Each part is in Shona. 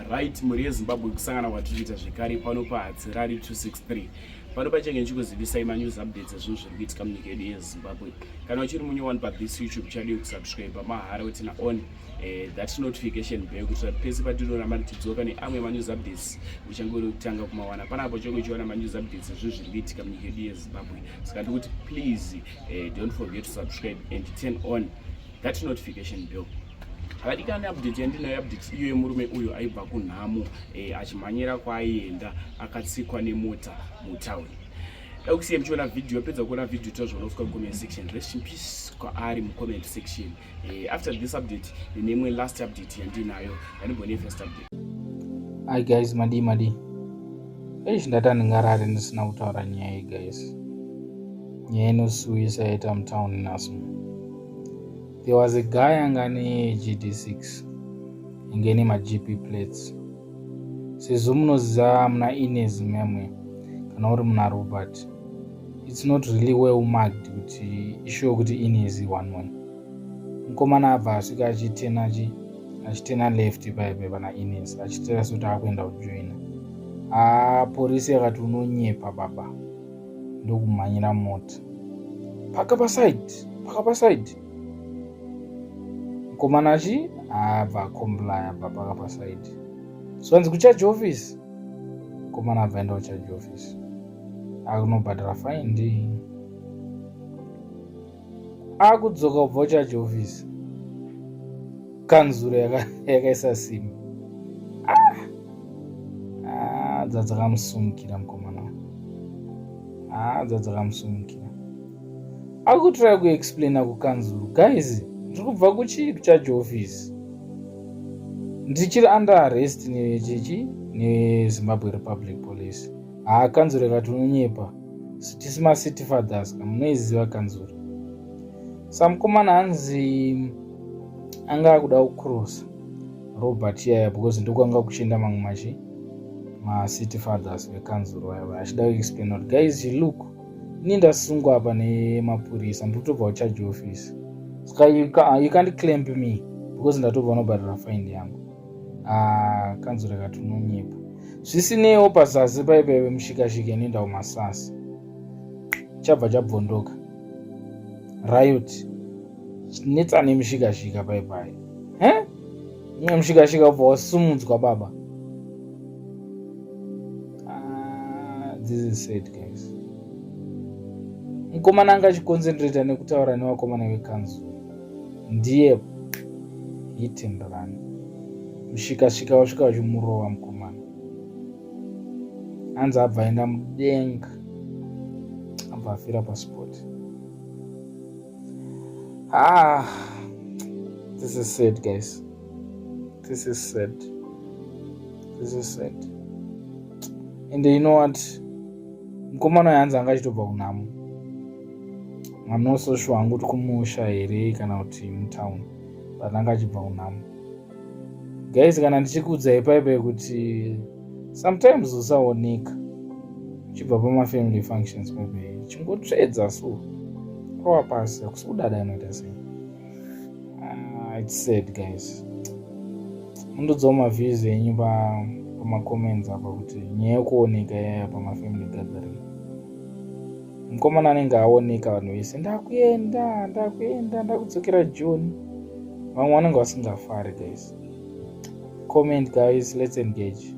Right, mhuri yeZimbabwe kusangana kwatiri kuita zvekare pano paHatsirari 263 pano pachenge ndichikuzivisai manews updates ezvinhu zviri kuitika munyika yedu yezimbabwe kana uchiri munye one pa this youtube chadi kusubscribe mahara wetina on eh, that notification bell kuitira kuti pese patinoona mari tidzoka neamwe manews updates uchange uri kutanga kumawana panapo chonge uchiona manews updates ezvinhu zviri kuitika munyika yedu yezimbabwe saka ndikuti please eh, don't forget to subscribe and turn on that notification bell havadikani update yandinayo update iyo yemurume uyo aibva kunhamo eh, achimhanyira kwaaienda akatsikwa nemota mutown ekusiya muchiona video apedza kuona video tozvonofika mucomment section rest in peace kwaari mucomment section eh, after this update neimwe last update yandinayo yanibone first update hi guys madii madii eish ndati andingarari ndisina kutaura nyaya iyi guys nyaya inosiuyisa yaita mutown naso There was a guy anga ne GD6 inge ne maGP plates sezvo munoziva muna Ines memwe kana uri muna Robert it's not really well marked kuti ishuwa kuti Ines one one mukomana abva asvika achitena chi achitena left paipe pana Ines achitera sekuti akuenda kujoina haa ah, porisi yakati unonyepa baba ndokumhanyira mota paka pasaidi paka pasaidi mukomana achi abva akomplaya abva paka pasaidi zvanzi kucharge office mukomana abva enda kucharge office akunobhadhara fine ndii akudzoka kubva kuchurch office kanzuro yakaisa yaka simba ah! ah, dzadzakamusumukira mukomana ah, dzadzakamusumukira akutorai kuexplaina kukanzuro guys ndiri kubva kuchii kuchurch office ndichiri under arrest nechechi nezimbabwe republic police haakanzuro ikati unonyepa sitisi macity fathers ka munoiziva kanzura samukomana hanzi anga akuda kucrossa robert yaya because ndokwanga kuchienda mamwe machi macity fathers vekanzuro vaiva achida kuexplain kuti guys you look ini ndasungwa apa nemapurisa ndotobva kucharge office ska you can't clamp me because ndatobva unobhadhara fine yangu ah, kanzura kati unonyepa zvisineiwo pazasi paipaive mushikashika inoenda kumasasi chabva chabvondoka riot netsana yemushikashika paipai imwe mushikashika ubva wasumudzwa baba ah, this is sad guys mukomana anga achikonzentrata nekutaura nevakomana vekanzura ndiye hit and run mushikashika wasvika wachimurova mukomana anzi abva aenda mudenga abva afira paspoti ah this is sad guys this is sad this is sad and you know what mukomana uyo hanzi anga achitobva kunhamo I'm not so sure hangu kuti kumusha here kana kuti mutown but anga achibva kunhamo guys kana ndichikuudzai paipai kuti sometimes usaoneka uchibva pamafamily functions paipai chingotsvedza so rowa pasi hakusi kudada anoita sei ah, it's sad guys mundiudzawo maviews enyu pamacomments apa kuti nyaya yokuoneka yaya pamafamily gathering mukomana anenge aoneka vanhu vese ndakuenda ndakuenda ndakudzokera joni vamwe vanenge vasingafari guys comment guys let's engage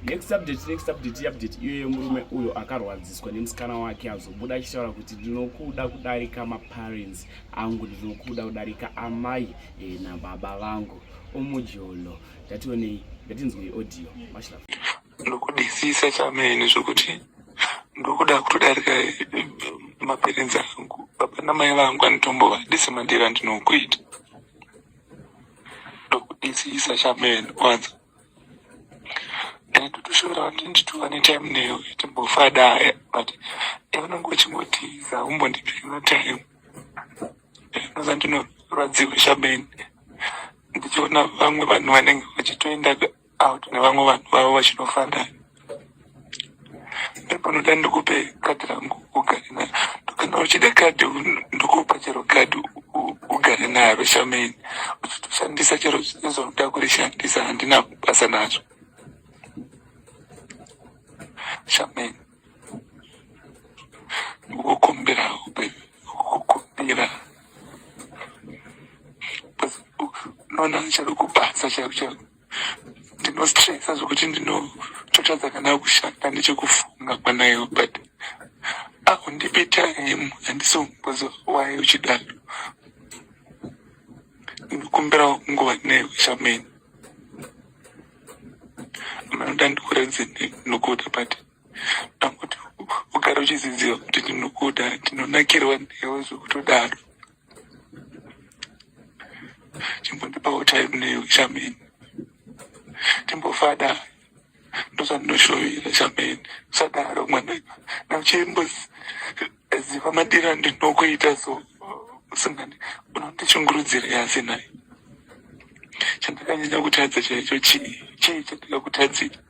next update next update iupdate iyo yemurume uyo akarwadziswa nemusikana wake azobuda achitaura kuti ndinokuda kudarika maparents angu ndinokuda kudarika amai e, nababa vangu omujolo ndationei ndatinzwei audio mashla ndokudisisa chamene zvokuti ndokuda kutodarika eh, maparents angu baba namai vangu anotombova disi mandira ndinokuita ndokudisisa chamene kwanza ndotoshora kuti nditova netime neyo timbofada but yaunenge uchingotiza umbondipira time inoza ndinorwadziwa shameni ndichiona vamwe vanhu vanenge vachitoenda out nevamwe vanhu vavo vachinofanda ndopanoda ndikupe kadhi rangu ugare naro kana uchida kadhi ndokupa chero kadhi ugare naro shameni uchitoshandisa chero zvazoda kurishandisa handina basa nazvo shameni wokumbirawo kukumbira noona chari kubasa chaiku chaiku ndinostresa zvokuti ndinototadza kana kushanda nechekufunga kwanayo but akundipe time handisombozowaye uchidaro ndikumbirawo kunguva nayo shameni manoda ndikuradze ndinokuda but ndangoti ugara uchiziziva kuti ndinokuda ndinonakirwa newe zvekutodaro chimbondipawo time neyo chameni timbofada ndozvandinoshovira chameni sadaro mwana nauchimbo ziva madira ndinokuita so usingani unoti chungurudzira yasi naye chandakanyanya kutadza chaicho chii chii chandakakutadzira